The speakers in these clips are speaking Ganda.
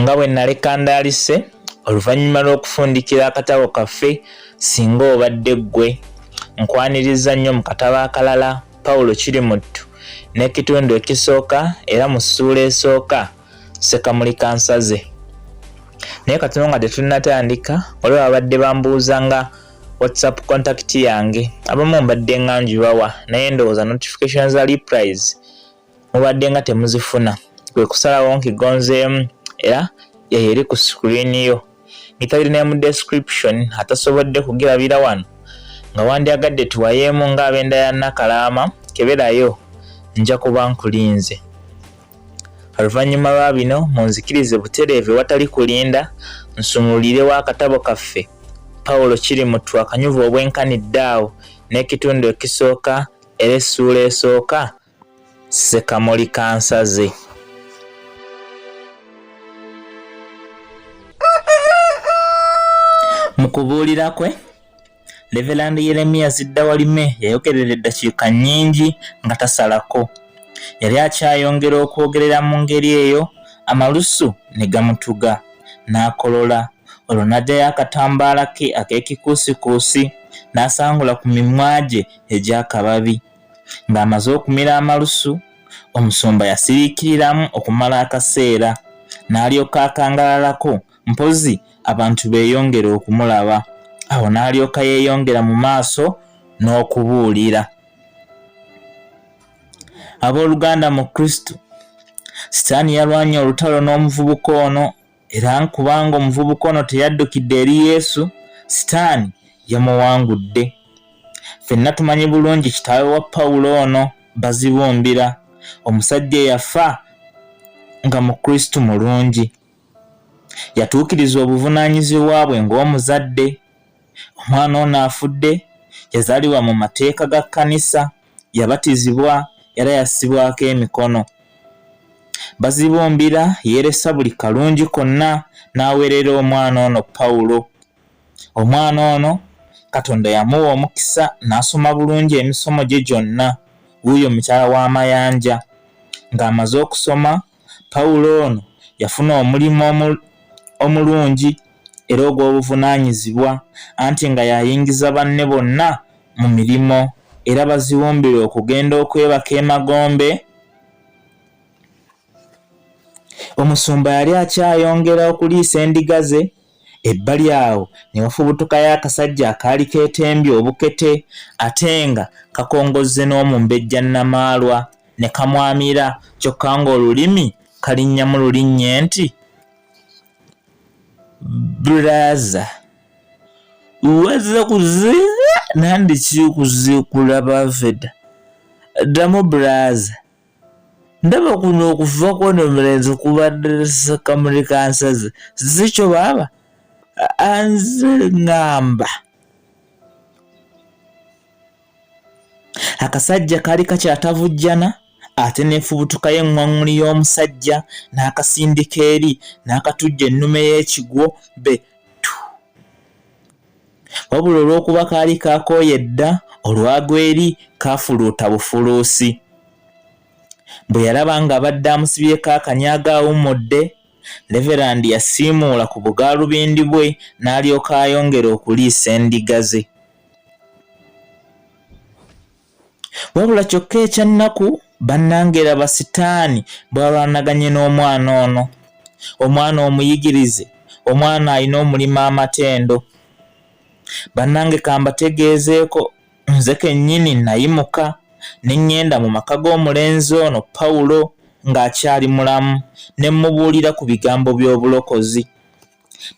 nga bwe nnali kandaalise oluvannyuma lw'okufundikira akatabo kaffe singa obadde ggwe nkwaniriza nnyo mu katabo akalala pawulo kiri muttu n'ekitundu ekisooka era mu ssuula esooka sekamuli kansaze naye katono nga tetunnatandika olwo babadde bambuuza nga whatsapp contact yange abamu mbadde nga njibawa naye ndowooza notification za reprise mubadde nga temuzifuna kwe kusalawo nkigonzeemu era eyo eri ku screen yo ngitayiri naye mu description atasobodde kugirabira wano nga wandyagadde tuwayeemu ng'abenda ya nakalaama keberayo nja kuba nkulinze Oluvannyuma lwa bino munzikirize butereevu ewatali kulinda nsumululirewo akatabo kaffe Pawulo Kirimuttu akanyuvu obwenkanidde awo n'ekitundu ekisooka era essuula esooka Ssekamuli Kansaze. Mu kubuulira kwe Leverand Yeremiya Ziddawalime yayogerera eddakiika nnyingi nga tasalako. Yali akyayongera okwogerera mu ngeri eyo, amalusu ne gamutuga, n'akolola. Olwo n'aggyayo akatambaala ke ak'ekikuusikuusi n'asangula ku mimwa gye egy'akababi. Ng'amaze okumira amalusu, omusumba yasiriikiriramu okumala akaseera, n'alyoka akangalalako mpozzi abantu beeyongera okumulaba awo n'alyoka yeeyongera mu maaso n'okubuulira abooluganda mu kristo sitaani yalwanye olutalo n'omuvubuka ono era kubanga omuvubuka ono teyaddukidde eri yesu sitaani yamuwangudde fenna tumanyi bulungi kitaawe wa pawulo ono bazibumbira omusajja eyafa nga mukristu mulungi yatuukiriza obuvunaanyizibwa bwe ng'omuzadde. Omwana ono afudde yazaalibwa mu mateeka ga kkanisa, yabatizibwa era yassibwako emikono. Bazibumbira yeeresa buli kalungi konna n'aweerera omwana ono Pawulo. Omwana ono Katonda yamuwa omukisa n'asoma bulungi emisomo gye gyonna. Wuuyo mukyala wa Mayanja ng'amaze okusoma Pawulo ono yafuna omulimu omulungi era ogw'obuvunaanyizibwa, anti nga y'ayingiza banne bonna mu mirimu era baziwumbirwe okugenda okwebaka emagombe. Omusumba yali akyayongera okuliisa endiga ze. ebbali awo ne wafubutukayo akasajja akaali keetembye obukete ate nga kakongozze n'omumbejja Namaalwa ne kamwamira kyokka ng'olulimi kalinnya mu lulinnye nti Bulaza wazze kuziika nandiki kuziikula Baveda ddamu Bulaza. ndaba kuno okufa kwono omulenzi kubadde kamuli kansaze zikyo baaba anze ngamba akasajja kali kakyatavujjana ate nefubutuka y'eŋŋwaŋŋuli y'omusajja n'akasindika eri n'akatujja ennume y'ekigwo be wabula olw'okuba kaali kaakooye dda olwagwa eri kaafuluuta bufuluusi bwe yalaba ng'abadde amusibyeko akanyaaga awummudde leverandi yasiimuula ku bugaalubindi bwe n'alyoka ayongera okuliisa endiga ze wabula kyokka ekyannaku bannange laba sitaani bwalwanaganye n'omwana ono omwana omuyigirize omwana alina omulima amatendo bannange kambategeezeeko nze kennyini nayimuka ne ŋŋenda mu maka g'omulenzi ono pawulo ng'akyali mulamu ne mmubuulira ku bigambo by'obulokozi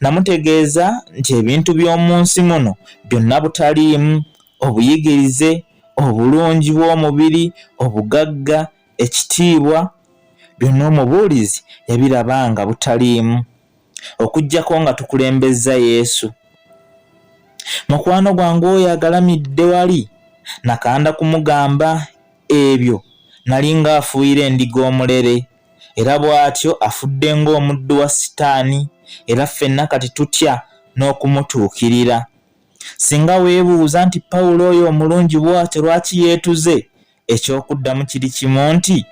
Namutegeeza nti ebintu by'omu nsi muno byonna butaliimu, obuyigirize, obulungi bw'omubiri, obugagga, ekitiibwa, byonna omubuulizi yabiraba nga butaliimu, okuggyako nga tukulembezza Yesu. Mukwano gwange oyo agalamidde wali nakanda kumugamba ebyo nali ng'afuuyira endiga omulere. era bw'atyo afudde ng'omuddu wa Sitaani, era ffenna kati tutya n'okumutuukirira. Singa weebuuza nti Pawulo oyo omulungi bw'atyo lwaki yeetuze, eky'okuddamu kiri kimu nti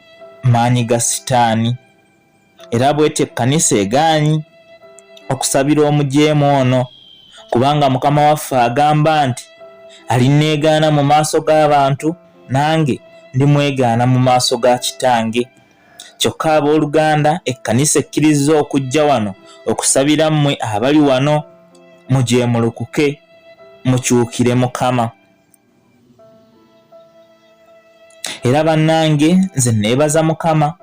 maanyi ga Sitaani. Era bw'etyo ekkanisa egaanyi okusabira omujeemu ono, kubanga Mukama waffe agamba nti, Alinneegaana mu maaso g'abantu, nange ndi mwegaana mu maaso ga kitange kyokka ab'oluganda ekkanisa ekkirizza okujja wano okusabira mmwe abali wano mujeemulukuke mukyukire mukama era bannange nze neebaza mukama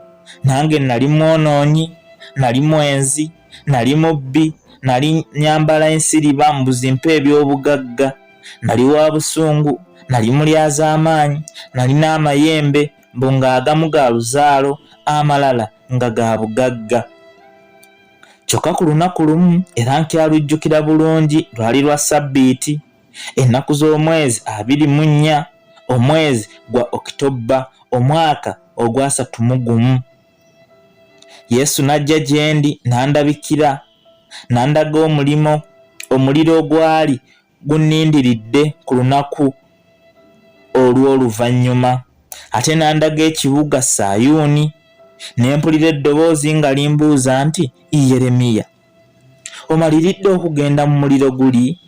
nange nali mwonoonyi nali mwenzi nali mubbi nali nyambala ensiriba mbuzimpa eby'obugagga nali wa busungu nali mulyazaamaanyi nalina amayembe mbu ng'agamu ga luzaalo amalala nga ga bugagga kyokka ku lunaku lumu era nkyalujjukira bulungi lwali lwa ssabbiiti ennaku z'omwezi abiri mu nnya omwezi gwa okitobba omwaka ogwasatu mu gumu yesu n'ajja gye ndi n'andabikira n'andaga omulimo omuliro ogwali gunnindiridde ku lunaku olw'oluvannyuma ate n'andaga ekibuga sayuuni ne mpulira eddoboozi nga limbuuza nti yeremiya omaliridde okugenda mu muliro guli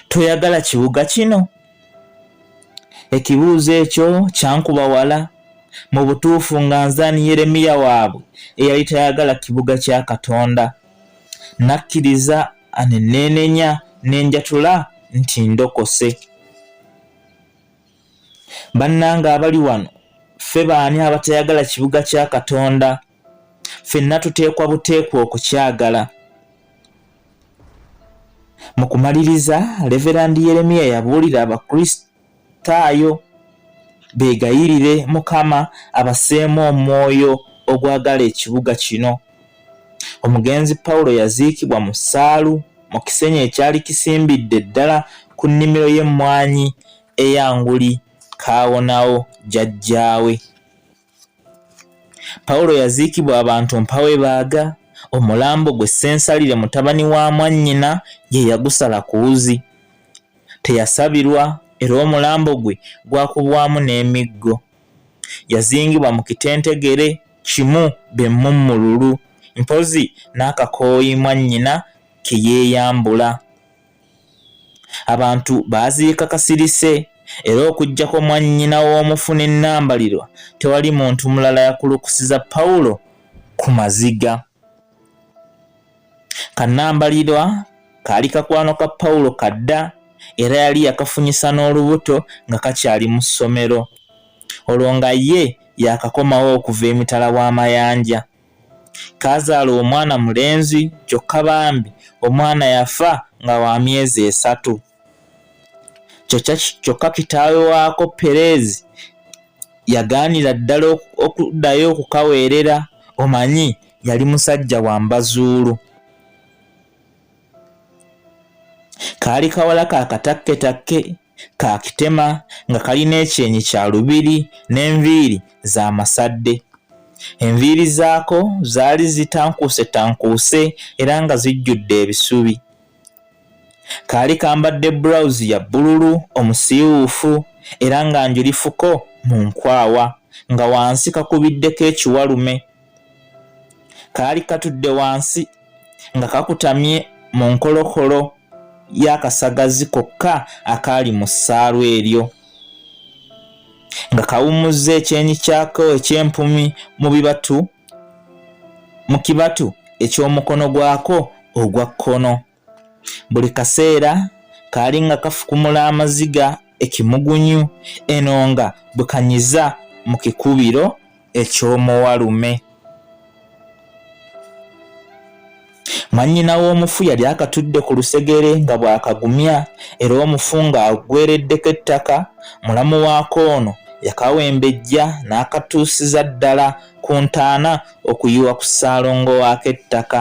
toyagala kibuga kino ekibuuzo ekyo kyankuba wala mu butuufu nga nzani yeremiya waabwe eyali tayagala kibuga kya katonda nakkiriza aneneenenya nenjatula nti ndokose bannanga abali wano ffe baani abatayagala kibuga kya katonda fenna tuteekwa buteekwa okukyagala mu kumaliriza leverandi yeremiya yabuulira abakristaayo beegayirire mukama abaseemu omwoyo ogwagala ekibuga kino omugenzi pawulo yaziikibwa mu ssaalu mu kisenyi ekyali kisimbidde ddala ku nnimiro y'emmwanyi eyanguli kaawonawo jajjaawe Pawulo yaziikibwa abantu mpa we baaga, omulambo gwe Ssensalire mutabani wa mwannyina ye yagusala ku wuzi. Teyasabirwa era omulambo gwe gwakubwamu n'emiggo. Yazingibwa mu kitentegere kimu be mmummululu, mpozzi n'akakooyi mwannyina ke yeeyambula. abantu baaziika kasirise era okuggyako mwannyina w'omufu ne Nambalirwa tewali muntu mulala yakulukusiza Pawulo ku maziga. Kanambalirwa kaali kakwano ka Pawulo kadda era yali yakafunyisa n'olubuto nga kakyali mu ssomero olwo nga ye yakakomawo okuva emitala w'amayanja. kaazaala omwana mulenzi kyokka bambi omwana yafa nga wa myezi esatu kyokka kitaawe waako pereezi yagaanira ddala okuddayo okukaweerera omanyi yali musajja wa mbazuulu Kaali kawala ka katakketakke ka kitema nga kalina ekyenyi kya lubiri n'enviiri za masadde. Enviiri zaako zaali zitankuusetankuuse era nga zijjudde ebisubi. Kaali kambadde bulawuzi ya bbululu omusiiwuufu era nga njulifuko mu nkwawa nga wansi kakubiddeko ekiwalume. kaali katudde wansi nga kakutamye mu nkolokolo y'akasagazi kokka akaali mu ssaalu eryo nga kawummuzza ekyenyi kyako eky'empumi mu bibatu mu kibatu eky'omukono gwako ogwa kkono buli kaseera kaali nga kafukumula amaziga ekimugunyu eno nga bwe kanyiza mu kikubiro eky'omuwalume. Mwannyina w'omufu yali akatudde ku lusegere nga bw'akagumya era omufu ng'aggwereddeko ettaka, mulamu waako ono yakawembejja n'akatuusiza ddala ku ntaana okuyiwa ku ssaalongo waako ettaka.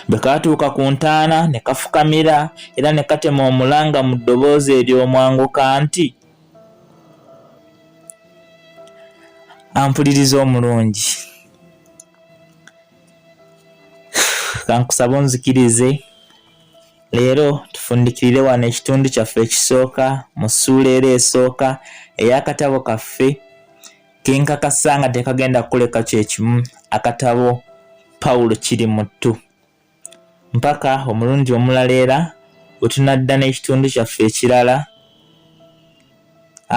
Bwe kaatuuka ku ntaana ne kafukamira era ne katema omulanga mu ddoboozi ery'omwanguka nti, Ampuliriza omulungi, kankusaba onzikirize leero tufundikirire wano ekitundu kyaffe ekisooka mu ssuula era esooka ey'akatabo kaffe. Kenkakasa nga tekagenda kukuleka kyekimu akatabo Pawulo kiri muttu mpaka omulundi omulala era wetunadda n'ekitundu kyaffe ekirala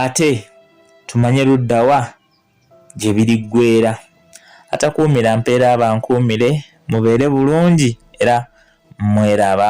ate tumanye luddawa gye biriggwera atakuumira mpeera abankuumire mubeere bulungi era mweraba